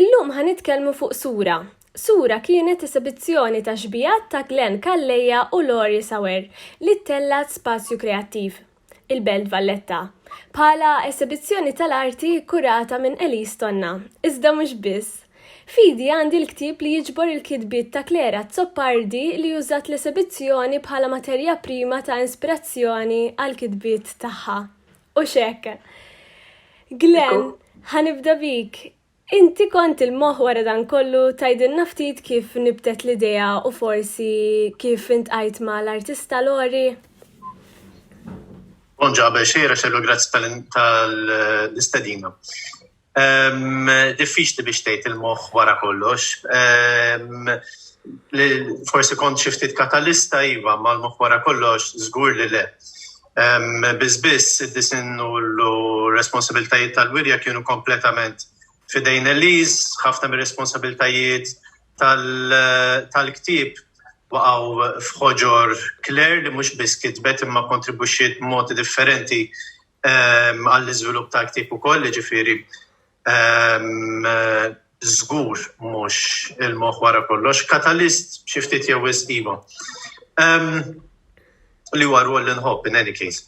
Illum ħa nitkellmu fuq Sura. Sura kienet esibizzjoni ta' xbijat ta' Glenn Calleja u Laurie Sauer li ttellgħet Spazju Kreattiv, il-Belt Valletta, bħala esibizzjoni tal-arti kkurata minn Elise Tonna. Iżda mhux biss. F'idi għandi l-ktieb li jiġbor il-kitbiet ta' Claire Azzopardi li użat l-esibizzjoni bħala materja prima ta' inspirazzjoni għall-kitbiet tagħha. U xek. Glenn, ħanibda bik. Inti kont il-moħ wara dan kollu tajdilna ftit kif nibtet l-idea u forsi kif intqajt ma l-artista Lori? Bonġa, għabel xejra xellu grazzi tal-istedina. Ehm, diffiċli biex tgħid il-moħħ wara kollox. Ehm, forsi kont xi ftit katalista iva mal-moħħ wara kollox żgur li le. Ehm, biss biss id-disin u l-responsabiltajiet tal-wirja kienu kompletament fidejn Eliz, ħafna mir-responsabiltajiet tal-ktib waqgħu f'ħoġor Claire li mhux biss kitbet imma kontribuxiet modi differenti għall-iżvilupp ta' ktieb ukoll, jiġifieri żgur mhux il-moħħ wara kollox, katalist xi ftit jew wisq iva. Li huwa rwol li nħobb in any case.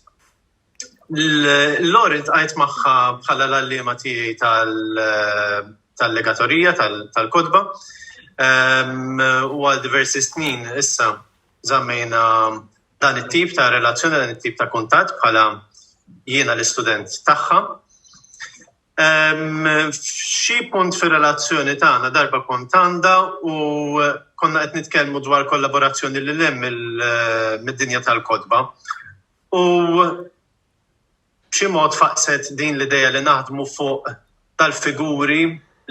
L-lor intqajt magħha bħala l-għalliema tiegħi tal-legatorija tal-kotba u għal diversi snin issa żammejna dan it-tip ta' relazzjoni, dan it-tip ta' kuntatt bħala jiena l-istudent tagħha. Xi punt fir-relazzjoni tagħna darba kont għandha u konna qed nitkellmu dwar kollaborazzjoni li lem mid-dinja tal-kotba. U b'xi mod faqqset din l-idea li naħdmu fuq tal-figuri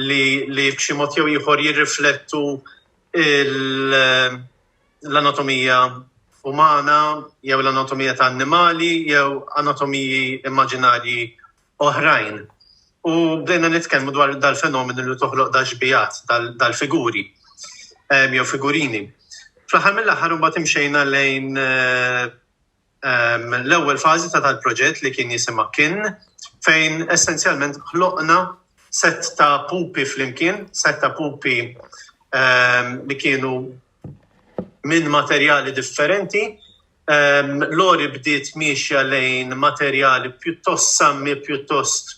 li li b'xi mod jew ieħor jirriflettu l-anatomija umana jew l-anatomija ta' annimali jew anatomiji immaġinarji oħrajn. U bdejna nitkellmu dwar dal-fenomenu li toħloq dax-xbiehat, dal-figuri jew figurini. Fl-aħħar mill-aħħar imbagħad imxejna lejn l-ewwel fażi ta' dal-proġett li kien jisimha Kin fejn essenzjalment ħloqna set ta' pupi flimkien, set ta' pupi li kienu minn materjali differenti. Lori bdiet miexja lejn materjali pjuttost sammi, pjuttost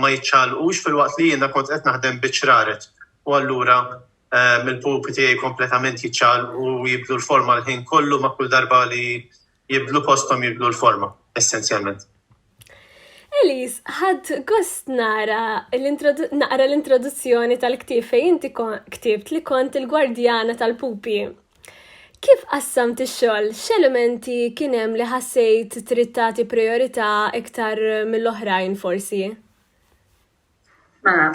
ma jiċċaqalqux filwaqt li jiena kont qed naħdem biċ-ċraret u allura mill-pupi tiegħi kompletament jiċċaqlqu u jibdlu l-forma l-ħin kollu ma' kull darba li jibdlu posthom jibdlu l-forma, essenzjalment. Elis, ħad gost nara naqra l-introduzzjoni tal-ktib fejn inti ktibt li kont il-gwardjana tal-pupi. Kif qassamt ix-xogħol? X'elementi kien hemm li ħassejt trid tagħti priorità iktar mill-oħrajn forsi? Mela,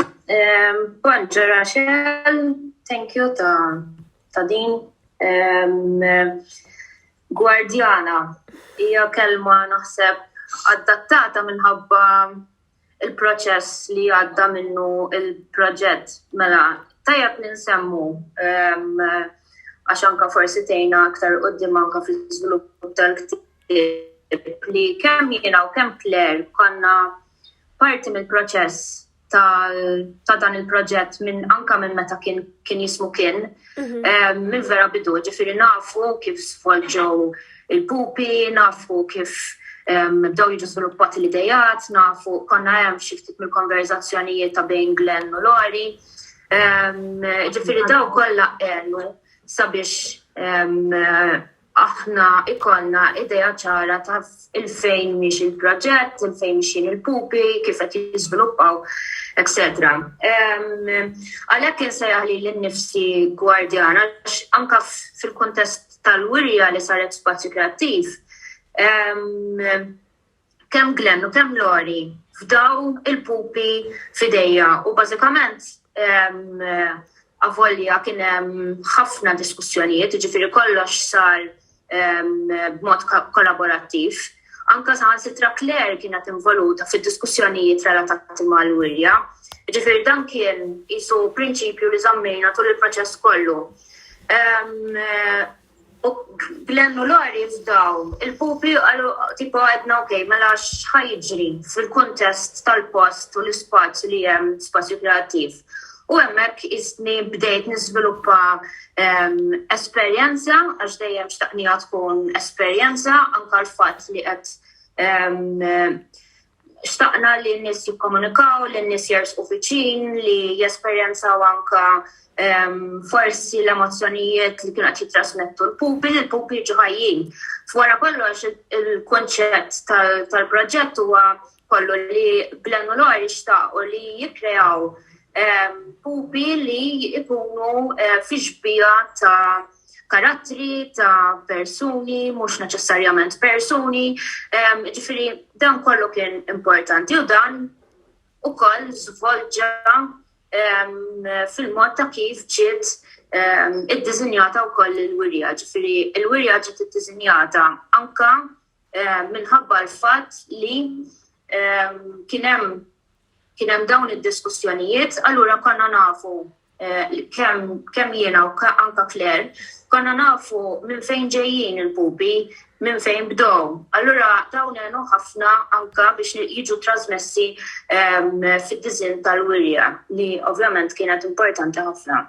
kont ġara xel, thank you ta' din. Gwardjana hija kelma naħseb adattata minħabba il-proċess li għadda minnu il-proġett. Mela, tajab ninsemmu għax anka forsi tejna aktar qoddim anka fil-żvilupp tal-ktib li kemm jiena u kemm Claire konna parti mill-proċess ta' dan il-proġett minn anka minn meta kien kien jismu kien mhm. eh, minn vera bidu ġifiri nafu kif svolġew il-pupi, nafu kif bdew jiġu sviluppati l-idejat, nafu konna hemm xi ftit mill-konverzazzjonijiet ta' bejn Glenn u Lori. Ġifiri daw kollha għenu sabiex aħna jkollna idea ċara ta' 'il fejn miexi il-proġett, 'il fejn mixjin il-pupi, kif qed jiżviluppaw, eċċetera. Għalhekk insejjaħ lili nnifsi gwardjan għax anke fil-kuntest tal-wirja li saret f'Spazju Kreattiv, kemm Glenn u kemm Lori fdaw il-pupi f'idejja u bażikament avolja kien hemm ħafna diskussjonijiet, jiġifieri kollox sar b'mod kollaborattiv. Anke saħansitra Claire kienet involuta fid-diskussjonijiet relatati mal-wirja. Jiġifieri dan kien qisu prinċipju li żammejna tul il-proċess kollu. U Glenn u Lori jifdaw il-pupli u qalu tipo għedna ok, mela x'ħa jiġri fil-kuntest tal-post u l-ispazju li hemm, spazju kreattiv. U hemmhekk qisni bdejt niżviluppa esperjenza għax dejjem xtaqniha tkun esperjenza anke l-fatt li qed xtaqna li n-nies jikkomunikaw, li n-nies jersqu viċin, li jesperjenzaw anke forsi l-emozzjonijiet li kienu qed jittrasmettu l-pupi, li l-pupi jiġu ħajjin. F'wara kollox il-kunċett tal-proġett huwa kollu li Glenn u Lori xtaqu li jikkreaw pupi li jkunu fi xbieha ta' karattri ta' persuni, mhux neċessarjament persuni, ġifiri dan kollu kien importanti u dan u koll zvolġa fil-mod ta' kif ġiet id-dizinjata u koll il-wirja, ġifiri il-wirja ġiet id-dizinjata anka minħabba l-fat li kienem Kien hemm dawn id-diskussjonijiet, allura konna nafu kemm kemm jiena u anke Claire, konna nafu minn fejn ġejjin il-pupi, minn fejn bdew. Allura dawn għenu ħafna anke biex jiġu trasmessi fid-disinn tal-wirja li ovvjament kienet importanti ħafna.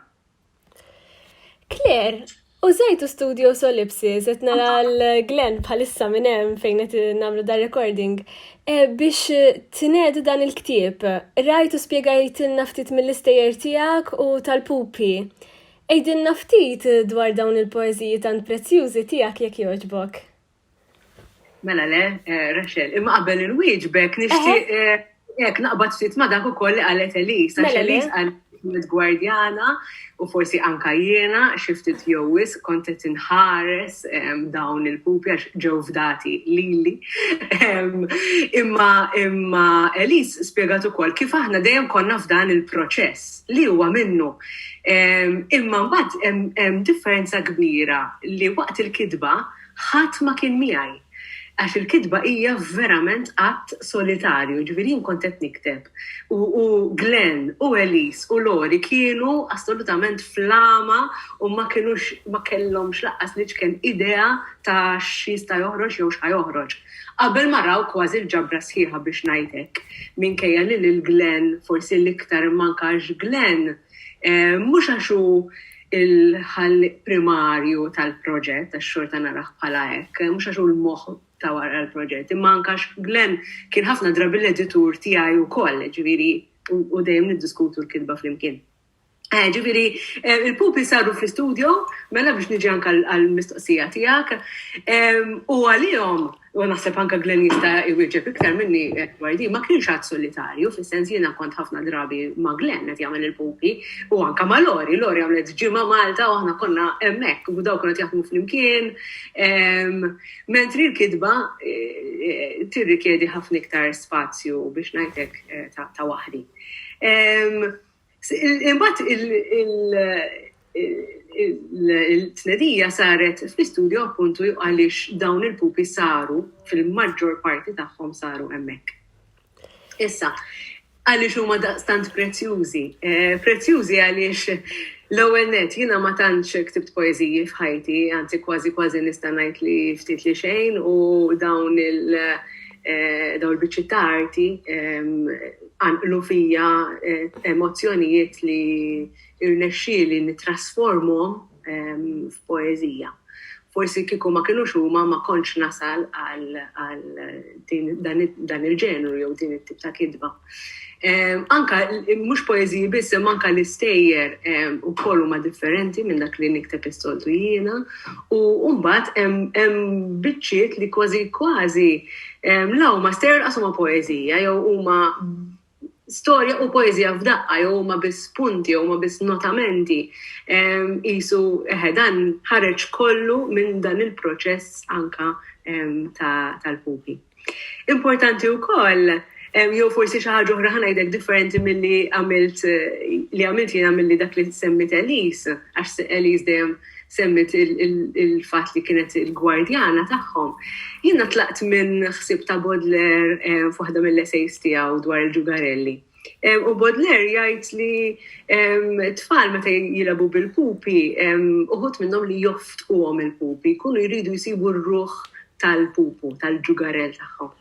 Claire, użajtu studio solipsis, qed nara l-Glenn bħalissa minn hemm fejn qed nagħmlu dar recording eh, biex tnedu dan il-ktieb. Rajtu spjegajtilna ftit mill-istejjer tiegħek u tal-pupi. Ejdilna ftit dwar dawn il-poeżiji tant prezzjużi tiegħek jekk jogħġbok. Mela le, eh, Rachel, imma qabel il-wieġbek nixtieq eh, jekk naqbad ftit ma dak ukoll li qalet Elis, għax Mela le. Elis qalet gwardjana u forsi anka jiena xi ftit jew wis kont qed inħares em, dawn il-pupi għax ġew fdati lili. Em, Imma imma Elis spjegat ukoll kif aħna dejjem konna f'dan il-proċess li huwa minnu. Em, Imma mbagħad hemm- hemm differenza kbira li waqt il-kitba Ħadd ma kien miegħi. Għax il-kitba hija verament att solitarju, jiġifieri jien kont qed nikteb u u Glenn u Elise u Lori kienu assolutament fl-għama u ma kinux ma kellhomx lanqas l-iċken idea ta' x'jista' joħroġ jew x'ħa joħroġ. Qabel ma raw kważi l-ġabra sħiħa biex ngħid hekk, minkejja li lil Glenn forsi l-iktar imma anke għax Glenn, Mhux għax hu l-ħallieq primarju tal-proġett, għax xorta narah bħala hekk, mhux għax hu l-moħħ ta' wara l-proġett, imma anke għax Glenn kien ħafna drabi l-editur tiegħi wkoll, ġifieri u dejjem niddiskutu l-kitba flimkien. Ġifieri, il-pupi saru fl-istudio, mela biex niġi anke għall-mistoqsija tiegħek, u għalihom u naħseb anke Glenn jista' jwieġeb iktar minni dwar din, ma kienx għadd solitarju, fis-sens jiena kont ħafna drabi ma' Glenn qed jagħmel il-pupi u anke ma' Lori. Lori għamlet ġimgħa Malta u aħna konna hemmhekk u dawn kienu qed jaħdmu flimkien. Mentri l-kitba tirrikjedi ħafna iktar spazju biex ngħidlek ta' waħdi. Imbagħad il-tnedija saret fl-istudju appuntu għaliex dawn il-pupi saru fil-maġġor parti tagħhom saru hemmhekk. Issa, għaliex huma daqstant prezzjużi? Eh, prezzjużi għaliex l-ewwel net jiena ma tantx ktibt poeżiji f'ħajti, anzi kważi kważi nista' ngħid li ftit li xejn u dawn il- eh, dawn il-biċċi ta' arti ehm, Qanqlu fija emozzjonijiet li rnexxieli nittrasformhom f'poeżija. Forsi kieku ma kinux huma ma kontx nasal għal dan il-ġenru jew din it-tip ta' kitba. Anke mhux poeżiji biss imma anke l-istejjer ukoll huma differenti minn dak li nikteb is-soltu jiena u mbagħad hemm biċċiet li kważi kważi La huma stereo laqas huma poeżija jew huma storja u poeżija f'daqqa jew huma biss punti jew huma biss notamenti. Qisu eħe dan ħareġ kollu minn dan il-proċess anka tal-ħuti. Importanti wkoll, jew forsi xi ħaġa oħra ħa ngħidlek differenti milli għamilt li għamilt jiena milli dak li semmiet Elise, għax Elise dejjem semmiet il-fatt li kienet il-gwardjana tagħhom. Jiena tlaqt minn ħsieb ta' Baudelaire f'waħda mill-essays tiegħu dwar il-ġugarelli. U Baudelaire jgħid li tfal meta jilabu bil-pupi, uħut minnhom li joftquhom il-pupi, jkunu jridu jsibu r-ruħ tal-pupu, tal-ġugarell tagħhom.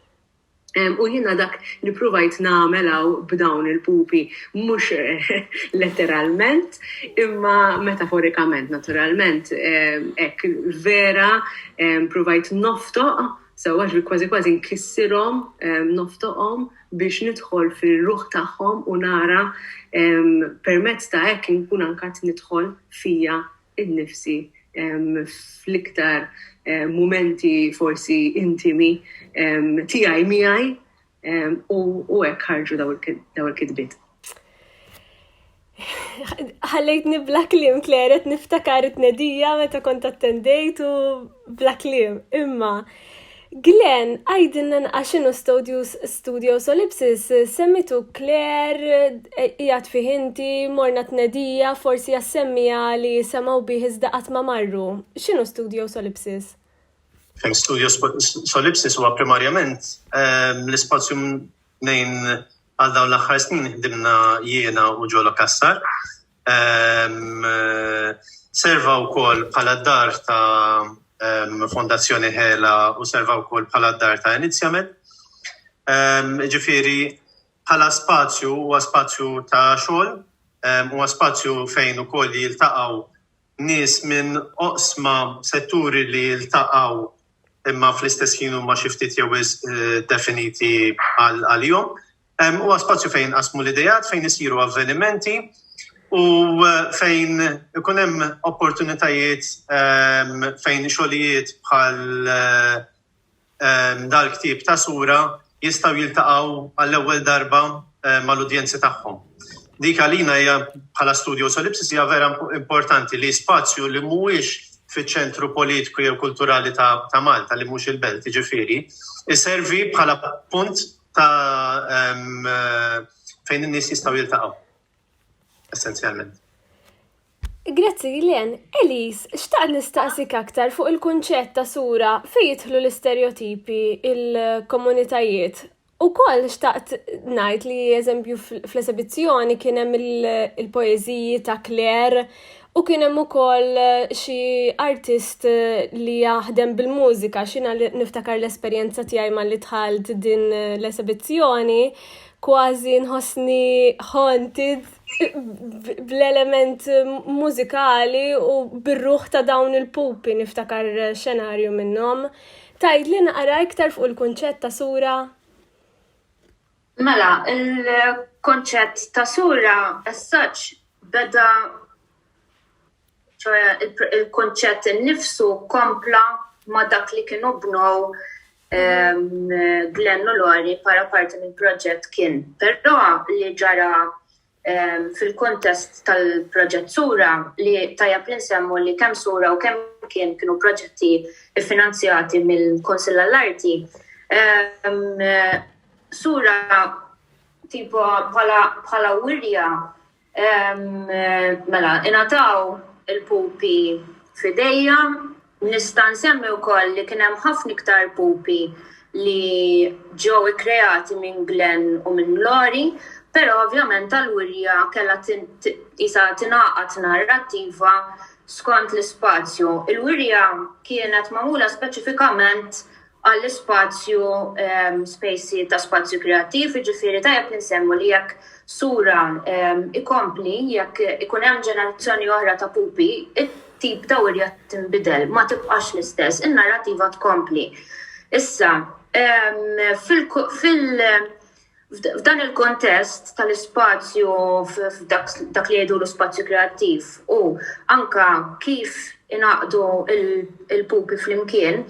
U jiena dak li pruvajt nagħmel hawn b'dawn il-pupi, mhux letteralment, imma metaforikament naturalment, hekk vera pruvajt noftoq sewwa, ġifieri kważi kważi nkissirhom, noftoqhom biex nidħol fir-ruħ tagħhom u nara permezz ta' hekk inkun anke qed nidħol fija innifsi fl-iktar mumenti forsi intimi tiegħi miegħi u hekk ħarġu daw il-kitbiet. Ħallejtni bla kliem kleret niftakar it-tnedija meta kont attendejt u bla kliem. Imma Glen, għidilna nqas x'inhu Stodius Studio Solipsis, semmitu Claire, qiegħed fih inti, morna tnedija, forsi assemmiha li semgħu bih iżda qatt ma marru. X'inhu Studio Solipsis? Studio Solipsis huwa primarjament l-ispazju mnejn għal dawn l-aħħar snin ħdimna jiena u Jolo Cassar. Serva wkoll bħala d-dar ta' Fondazzjoni Hela u serva wkoll bħala d-dar ta' Inizjament. Ġifieri bħala spazju huwa spazju ta' xogħol, huwa spazju fejn ukoll jiltaqgħu nies minn oqsma, setturi li jiltaqgħu imma fl-istess ħin huma xi ftit jew wisq definiti għalihom. Huwa spazju fejn jinqasmu l-ideat, fejn isiru avvenimenti u fejn ikun hemm opportunitajiet fejn xogħlijiet bħal dal-ktieb ta' sura jistgħu jiltaqgħu għall-ewwel darba mal-udjenzi tagħhom. Dik għalina hija bħala Studio Solipsis hija vera importanti li spazju li mhuwiex fiċ-ċentru politiku jew kulturali ta' Malta li mhux il-Belt jiġifieri, iservi bħala punt ta' fejn in-nies jistgħu jiltaqgħu. Essenzjalment. Grazzi Len, Elis, xtaqt nistaqsik aktar fuq il-kunċett ta' sura fejn jidħlu l-istereotipi il-komunitajiet. U koll xtaqt najt li eżempju fl-esebizzjoni kien hemm il-poeżiji ta' Claire U kien hemm ukoll eh, xi artist eh, li jaħdem bil-mużika, xina niftakar l-esperjenza tiegħi malli dħalt din eh, l-esibizzjoni, kważi nħossni haunted bl-element mużikali u bir-ruħ ta' dawn il-pupi niftakar xenarju minnhom. Tajd li naqra iktar fuq il-kunċett ta' sura Mela, il-konċett ta' sura as such beda ċoħe il-konċett innifsu kompla ma' dak li kienu bnow Glenn u Lori para parti mill-proġett kien. Però li ġara Fil-kuntest tal-proġett Sura, li tajjeb li nsemmu li kemm Sura u kemm Kien kienu proġetti ffinanzjati mill-Kunsill għall-Arti, Sura tipo bħala wirja mela ingħataw il-pupi f'idejja Nista' nsemmi wkoll li kien hemm ħafna iktar pupi li ġew ikkreati minn Glenn u minn Lori, però ovvjament Allurja kellha qisha tingħaqad narrattiva skont l-ispazju. Il-wirja kienet magħmula speċifikament għall-ispazju spacey ta' spazju kreattiv, jiġifieri tajjeb li nsemmu li jekk Sura jkompli, jekk ikun hemm ġenerazzjoni oħra ta' pupi, it-tip ta' wirja tinbidel, ma tibqax l-istess, in-narrativa tkompli. Issa, fil-, fil-, F'dan il-kontest tal-ispazju f'dak li jgħidulu spazju kreattiv u anke kif ingħaqdu l-pupi flimkien,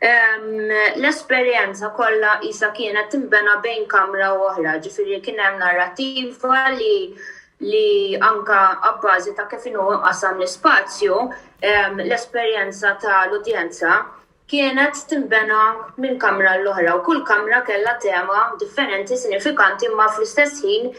l-esperjenza kollha qisha kienet tinbena bejn kamra u oħra, ġifieri kien hemm narrattiva li anke abbażi ta' kif inhu mqassam l-ispazju, l-esperjenza tal-udjenza kienet tinbena minn kamra għal oħra u kull kamra kellha tema differenti sinifikanti imma fl-istess ħin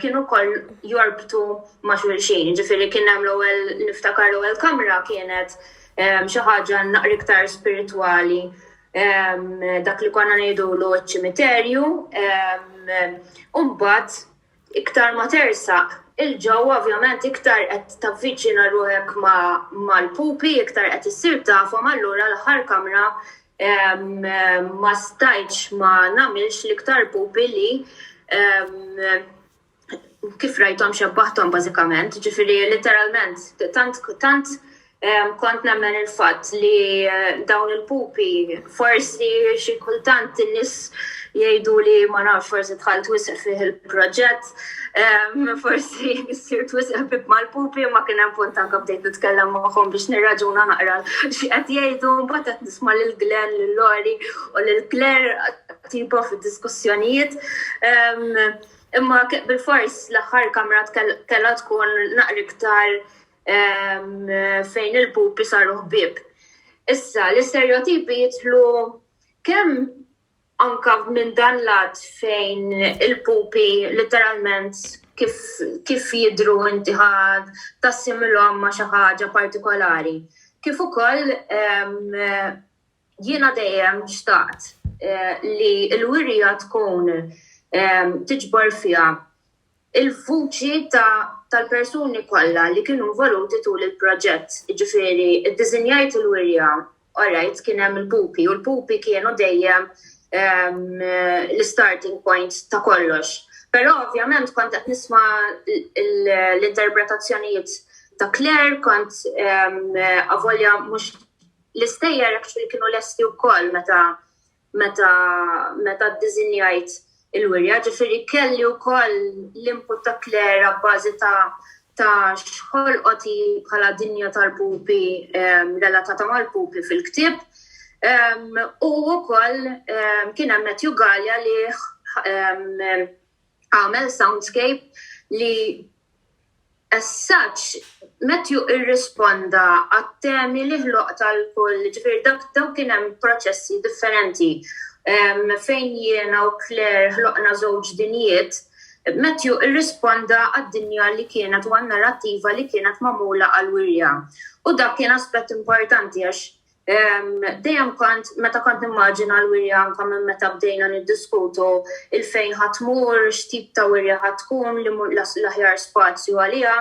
kienu wkoll jorbtu ma' xulxin. Jiġifieri kien hemm l-ewwel niftakar l-ewwel kamra kienet xi ħaġa naqra iktar spiritwali dak li konna ngħidulu ċ-ċimiterju u mbagħad Iktar ma tersaq 'il ġewwa ovvjament iktar qed tavviċina ruħek mal-pupi, iktar qed issir tafhom allura l-aħħar kamra ma stajtx ma nagħmilx l-iktar pupi li kif rajthom xebbaħthom bażikament. Ġifieri litteralment tant tant Kont nemmen il-fatt li dawn il-pupi forsi xi kultant in-nies jgħidu li ma nafx forsi dħalt wisq fih il-proġett, forsi ssir wisq ħbieb mal-pupi imma kien hemm punt anke bdejt nitkellem magħhom biex nirraġuna naqra xi qed jgħidu mbagħad qed nisma' lil Glenn, lil Lori u lil Claire tipo fid-diskussjonijiet. Imma bil-fors l-aħħar kamra kellha tkun naqra iktar fejn il-pupi saru ħbieb. Issa, l-isterjotipi jitlu kemm anka minn dan lat fejn il-pupi literalment kif, kif jidru inti ħad tassimilhom ma' xi ħaġa partikolari. Kif ukoll jiena dejjem xtaqt eh, li l-wirja tkun eh, tiġbor fiha il-vuċi tal-persuni kollha li kienu involuti tul il-proġett, jiġifieri iddiżinjajt il-wirja, orajt kien hemm il-pupi u l-pupi kienu dejjem l-istarting point ta' kollox. Però ovvjament kont qed nisma' l-interpretazzjonijiet ta' Claire, kont avolja mhux l-istejjer actually kienu lesti wkoll meta meta meta ddiżinjajt il-wirja, ġifieri kelli wkoll l-input ta' Claire abbażi ta' ta' x'ħolqot hi bħala dinja tal-pupi relatata mal-pupi fil-ktieb. U wkoll kien hemm Matthew Galea li għamel soundscape li as such Matthew irrisponda għat-temi li ħloqt għal kull, ġifieri dak daw kien hemm proċessi differenti fejn jiena u Claire ħloqna żewġ dinjiet, Matthew irrisponda għad-dinja li kienet u għan-narrattiva li kienet magħmula għall-wirja. U dak kien aspett importanti għax Dejjem kont meta kont nimmaġina l-wirja anke minn meta bdejna niddiskutu il-fejn ħa tmur, x'tip ta' wirja ħa tkun, li l-aħjar spazju għaliha,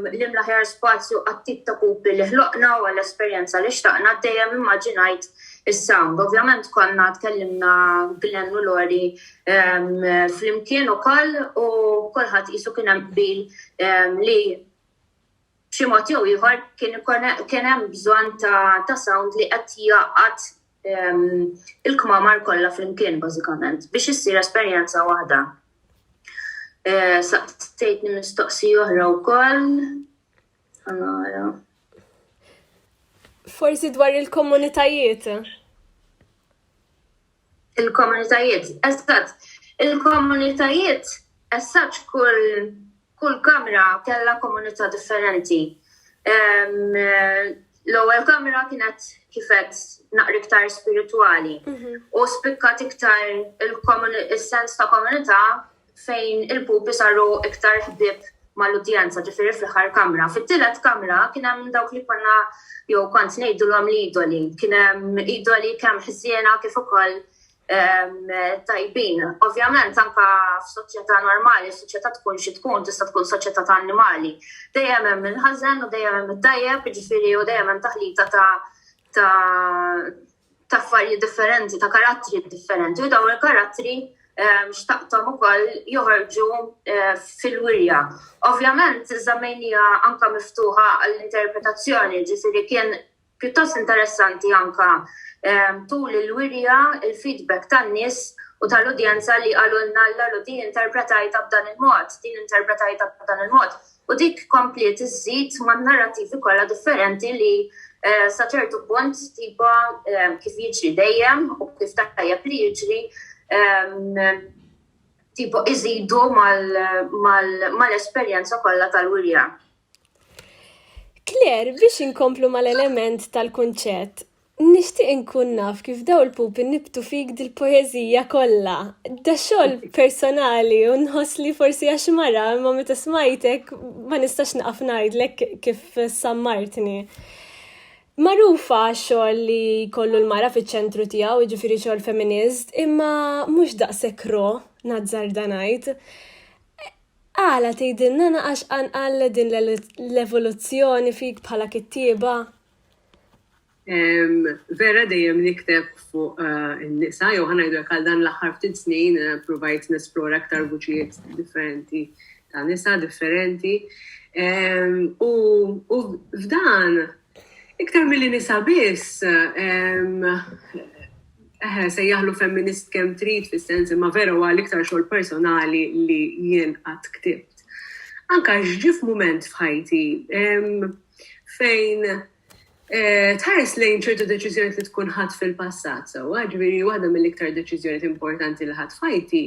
li l-aħjar spazju għat-tip ta' pupi li ħloqna u għall-esperjenza li xtaqna, dejjem immaġinajt is-sound. Ovvjament konna tkellimna Glenn u Lori flimkien ukoll u kulħadd qisu kien hemm qbil li B'xi mod jew ieħor kien ikun kien hemm bżonn ta' ta' sound li qed jgħaqqad il-kmamar kollha flimkien bażikament biex issir esperjenza waħda. Saqsejtni mistoqsija oħra wkoll. Nara. Forsi dwar il-komunitajiet. Il-komunitajiet, eżatt, il-komunitajiet, eżatt kull kull kamra kellha komunità differenti. Ehm, l-ewwel kamra kienet kifet naqri iktar spiritwali mhm. u spikkat iktar il-sens ta' komunità fejn il-pupi saru iktar ħbieb mal-udjenza, ġifieri fl-aħħar kamra. Fit-tielet kamra kien hemm dawk li konna jew kont ngħidulhom l-idoli. Kien hemm idoli kemm ħżiena kif ukoll tajbin. Ovvjament anke f'soċjetà normali, soċjetà tkun xi tkun, tista' tkun soċjetà ta' annimali, dejjem hemm il-ħażen u dejjem hemm it-tajjeb, jiġifieri u dejjem hemm taħlita ta' ta' affarijiet differenti, ta' karattri differenti u dawn il-karattri ehm, xtaqtom ukoll joħorġu eh, fil-wirja. Ovvjament, żammejnija anka miftuħa għall-interpretazzjoni, ġifiri kien pjuttost interessanti anka ehm, tul il-wirja, il-feedback tan-nies u tal-udjenza li għalunna l-lalu din interpretajta b'dan il-mod, din interpretajta b'dan il-mod. U dik kompliet iżżid man-narrattivi kollha differenti li sa ċertu punt tipo kif jiġri dejjem u kif tajjeb li jiġri tipo iżidu mal-esperjenza kollha tal-wirja. Claire, biex inkomplu mal-element tal-kunċett, Nixtieq inkun naf kif daw il-pupi nibtu fik dil-poeżija kollha. Da xogħol personali u nħoss li forsi għax mara imma meta smajtek ma nistax naqaf ngħidlek kif sammartni. Magħrufa x-xogħol li jkollu l-mara fiċ-ċentru tiegħu, jiġifieri xogħol feminist, imma mhux daqshekk raw, nazzarda ngħid. Għala tgħidilna naqax qanqal din l-evoluzzjoni fik bħala kittieba? Vera dejjem nikteb fuq eh, in-nisa, jew ħanajdu jekk għal dan l-aħħar ftit snin eh, provajt nesplora aktar vuċijiet differenti ta' nisa differenti. U f'dan, iktar mill nisa biss, eħe, se jaħlu femminist kem trit fis-sens imma vera huwa l-iktar xogħol personali li jien qatt ktibt. Anka ġif moment f'ħajti, fejn eh, tħares lejn ċertu deċiżjoni li tkun ħadd fil-passat sewwa, ġifieri waħda mill-iktar deċiżjoni importanti li ħadd fajti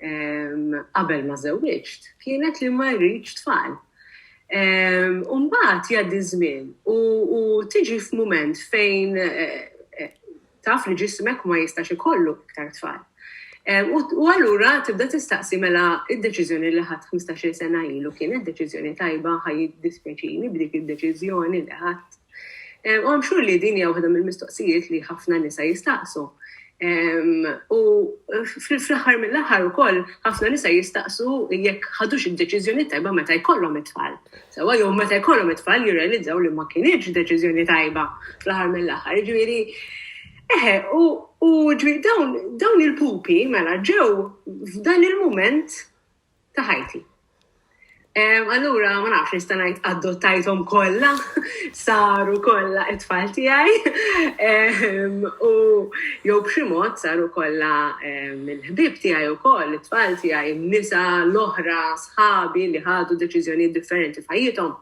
ehm, qabel ma żewwiġt kienet li ma rridx tfal. Ehm, Umbat jgħaddi żmien u tiġi f'mument fejn eh, eh, taf li ġismek ma jistax ikollu iktar tfal. U allura tibda tistaqsi mela id-deċiżjoni li ħadd 15-il sena ilu kienet deċiżjoni tajba ħaj dispjaċini b'dik id-deċiżjoni li ħadd. U għam xur li din hija waħda mill-mistoqsijiet li ħafna nisa jistaqsu. U fl-aħħar mill-aħħar ukoll ħafna nisa jistaqsu jekk ħadux id-deċiżjoni tajba meta jkollhom it-tfal. Sewwa jom meta jkollhom it-tfal jirrealizzaw li ma kinitx deċiżjoni tajba fl-aħħar mill-aħħar. Jiġifieri, eħe, u ġifieri dawn dawn il-pupi mela ġew f'dan il-mument ta' ħajti. Allura, ma nafx nista' ngħid adottajthom kollha, saru kollha it-tfal tiegħi, u jew b'xi mod saru kollha il-ħbieb tiegħi wkoll, it-tfal tiegħi, n-nisa l-oħra, sħabi li ħadu deċiżjonijiet differenti f'ħajjithom.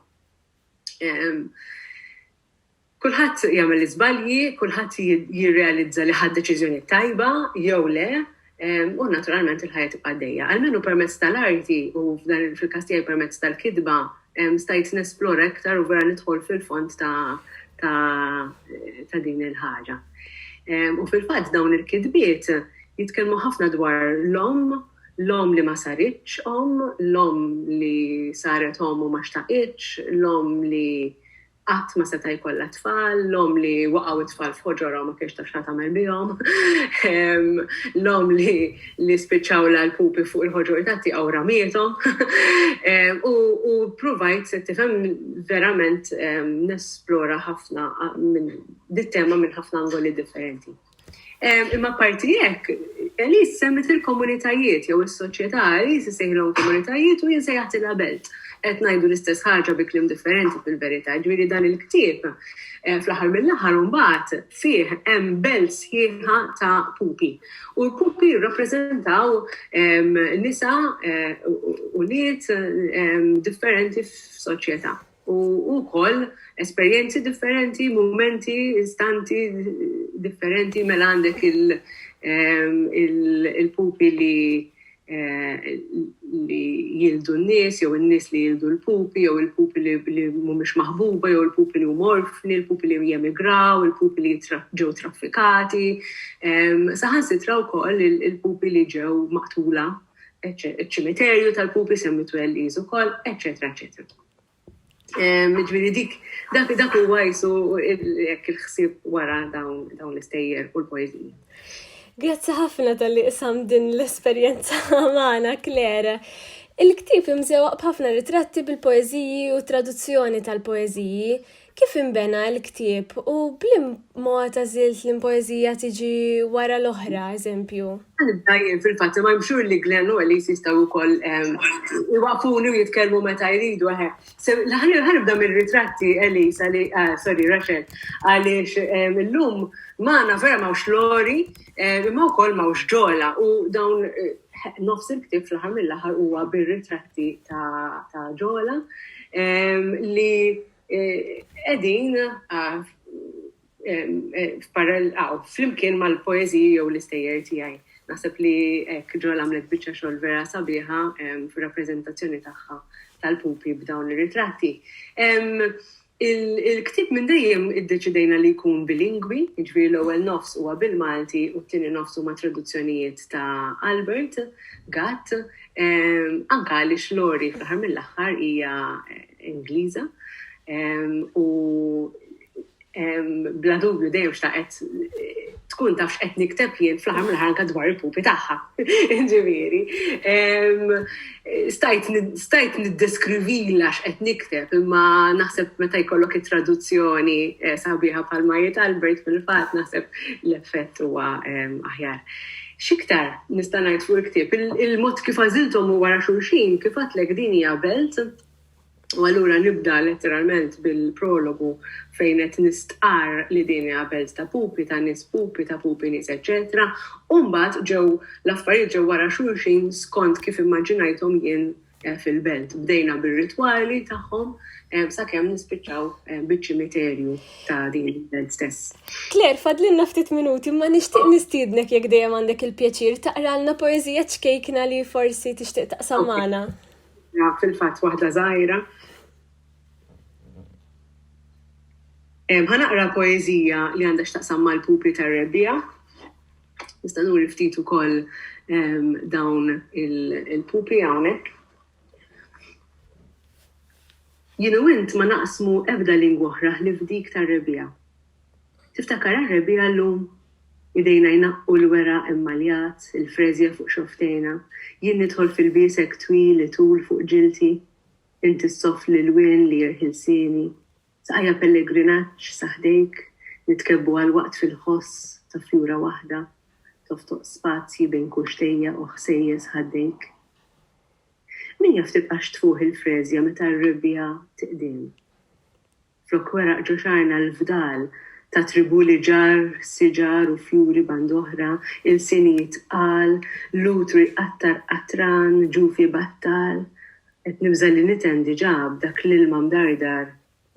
Kulħadd jagħmel iżbalji, kulħadd jirrealizza li ħadd deċiżjonijiet tajba jew le, u naturalment il-ħajja tibqa' dejja. Almenu permezz tal-arti u f'dan fil-każ tiegħi permezz tal-kitba stajt nesplora iktar u vera nidħol fil-fond ta' ta', ta din il-ħaġa. U fil-fatt dawn il-kitbiet jitkellmu ħafna dwar l-om L-omm li ma saritx omm, l-omm li saret omm u ma xtaqitx, l-omm li qatt ma seta' jkollha t-tfal, l-omm li waqgħu t-tfal f'ħoġorha u ma kinitx taf x'ħatagħmel bihom, l-omm li spiċċawlha l-pupi fuq il-ħoġor tat-tieqa u ramiethom. U ppruvajt, tifhem, verament nesplora ħafna minn dit-tema minn ħafna angoli differenti. Imma apparti hekk, Elise semmiet il-komunitajiet jew is-soċjetà, Elise isejħilhom komunitajiet u jien sejjaħtilha belt. Qed ngħidu l-istess ħaġa bi kliem differenti fil-verità, jiġifieri dan il-ktieb fl-aħħar mill-aħħar imbagħad fih hemm belt sħiħa ta' pupi. U l-pupi jirrappreżentaw nisa, ulied differenti f'soċjetà. U wkoll esperjenzi differenti, mumenti, istanti differenti mela għandek il-pupi li li jildu n-nies, jew n-nies li jildu l-pupi, jew il-pupi li mhumiex maħbuba, jew il-pupi li huma orfni, il-pupi li jemigraw, il-pupi li ġew traffikati, saħansitra wkoll il-pupi li ġew maqtula, iċ-ċimiterju tal-pupi semmitu Elise ukoll, eċċetera, eċċetera. Ġifieri dik dak dak huwa qisu hekk il-ħsieb wara dawn dawn l-istejjer u l-poeżiji. Grazzi ħafna tal-li isam din l-esperjenza magħna Claire. Il-ktieb imżewaq b'ħafna ritratti bil-poeżiji u traduzzjoni tal-poeżiji. Kif inbena l-ktieb u b'lim mod għażilt li poeżija tiġi wara l-oħra, eżempju? Nibda jien fil-fatt imma I'm sure li Glenn u Elise jistgħu wkoll iwaqfuni u jitkellmu meta jridu eħe. Ħa nibda mir-ritratti Elise, sorry Rachel, għaliex illum magħna vera m'hawnx Lori imma wkoll m'hawnx Ġola u dawn nofs il-ktieb fl-aħħar mill-aħħar huwa bir-ritratti ta' Ġola li qegħdin flimkien mal-poeżiji jew l-istejjer tiegħi. Naħseb li hekk Ġol għamlet biċċa xogħol vera sabiħa fir-rappreżentazzjoni tagħha tal-pupi b'dawn ir-ritratti. Il-ktieb minn dejjem iddeċidejna li jkun bilingwi, jiġifieri l-ewwel nofs huwa bil-Malti u t-tieni nofs huma traduzzjonijiet ta' Albert Gatt, anke għaliex Lori fl-aħħar mill-aħħar hija Ingliża u bla dubju dejjem xtaqet tkun taf x'qed nikteb jien fl-aħħar mill ħanka dwar il-pupi tagħha. Ġifieri. Stajt niddeskrivila x'qed nikteb imma naħseb meta jkollok it-traduzzjoni eh, sabiħa bħal Majiet Albert fil-fatt naħseb l-effett huwa aħjar. Xiktar nista' ngħid fuq il-ktieb, il-mod kif għażilthom u wara xulxin kif għatlek din hija belt U allura nibda letteralment bil-prologu fejn qed nistqarr li din hija belt ta' pupi, ta' nies pupi, ta' pupi nies eċċetera, u mbagħad ġew l-affarijiet ġew wara xulxin skont kif immaġinajthom jien fil-belt. Bdejna bir-ritwali tagħhom sakemm nispiċċaw biċ-ċimiterju ta' din il-belt stess. Claire, fadlilna ftit minuti, ma nixtieq nistiednek jekk dejjem għandek il-pjaċir taqralna poeżija ċkejkna li forsi tixtieq taqsam magħna. fil-fatt waħda żgħira. Ħanaqra poeżija li għandha x'taqsam mal-pupi tar-rebbija. Nista' nuri ftit ukoll dawn il-pupi hawnhekk. Jienu int ma naqsmu ebda lingwa oħra ħlif dik tar-rebbija. Tiftakar għar-rebbiegħa llum? Idejna jnaqqu l-weraq immaljat, il-freżja fuq xofftejna, jien nidħol fil-biesek twil itul fuq ġilti, inti ssoff l-ilwien li jerħi lsieni, saqajja pellegrinaġġ sa ħdejk, nitkebbu għal waqt fil-ħoss ta' fjura waħda, toftoq spazji bejn kuxtejja u ħsejjes ħaddejk. Min jaf tibqax tfuħ il-freżja meta r-rebbiegħa tiqdem? Flok weraq ġo xagħarna l-fdal ta' tribù li ġarr siġar u fjuri band'oħra, ilsien jitqal, l-utru jqattar qatran, ġuf ibattal. Qed nibża' li niten diġà b'dak l-ilma mdardar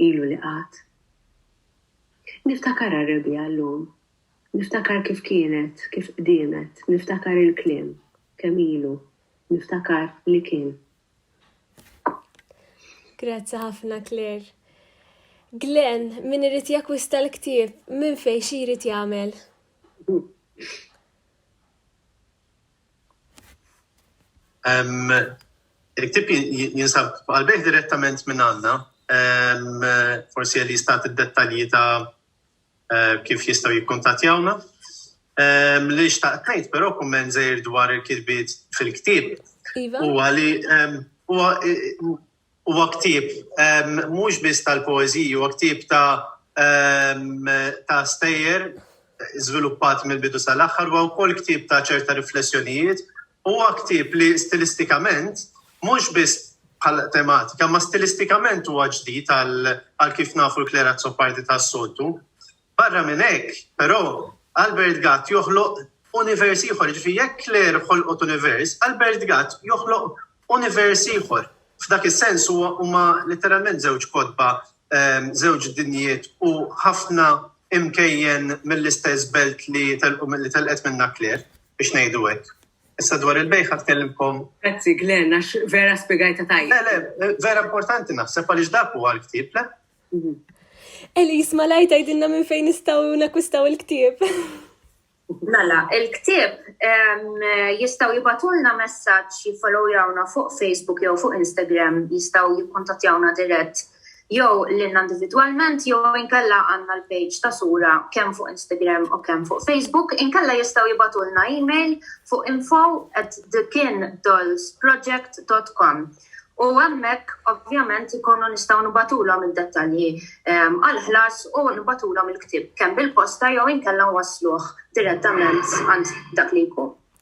ilu li qagħad. Niftakar għar-rebbiegħa llum. Niftakar kif kienet, kif qdiemet, niftakar il-kliem, kemm ilu, niftakar li kien. Grazzi ħafna Claire. Glenn, min irid jakwista l-ktieb, minn fejn xi jrid jagħmel? Il-ktieb jinsab għal-bejħ direttament minn għandna, forsi li jistat id-dettalji ta' Eh, kif jistaw jikkontatjawna. Ehm, li xtaqt ngħid però kumment żejr dwar il-kitbiet fil-ktieb. Iva. Huwa li ehm, huwa ktieb ehm, mhux biss tal-poeżiji, huwa ktieb ta' ta' stejjer żviluppat mill-bidu sal-aħħar, huwa wkoll ktieb ta' ċerta riflessjonijiet Huwa ktieb li stilistikament, mhux biss bħala tematika, imma stilistikament huwa ġdid għal kif nafu l-Claire Azzopardi tas-soltu. Barra minn hekk, però, Albert Gatt joħloq univers ieħor, jiġifieri jekk Claire ħolqot univers, Albert Gatt joħloq univers ieħor. F'dak is-sens huwa huma letteralment żewġ kotba, żewġ dinjiet u ħafna imkejjen mill-istess belt li telqu li telqet minnha Claire. biex ngħidu hekk. Issa dwar il-bejgħ ħa tkellimkom. Grazzi Glenn għax vera spjegajta tajjeb. Le, le, vera importanti naħseb għaliex dak huwa l-ktieb, le? Mhm. Elis, ma lajt għajdinna minn fejn nistaw nakwistaw il-ktib. Mela, il-ktib jistaw jibatulna messaċ jifollowjawna fuq Facebook jew fuq Instagram, jistaw jikkontattjawna dirett jew lilna individwalment jew inkella għandna l-page ta' Sura kemm fuq Instagram u kemm fuq Facebook, inkella jistgħu jibgħatulna email fuq info at thekindlesproject.com u hemmhekk ovvjament ikunu nistgħu nibatulhom id-dettalji ehm, għall-ħlas u nibatulhom il-ktieb kemm bil-posta jew inkella wasluh direttament għand dak li jkun.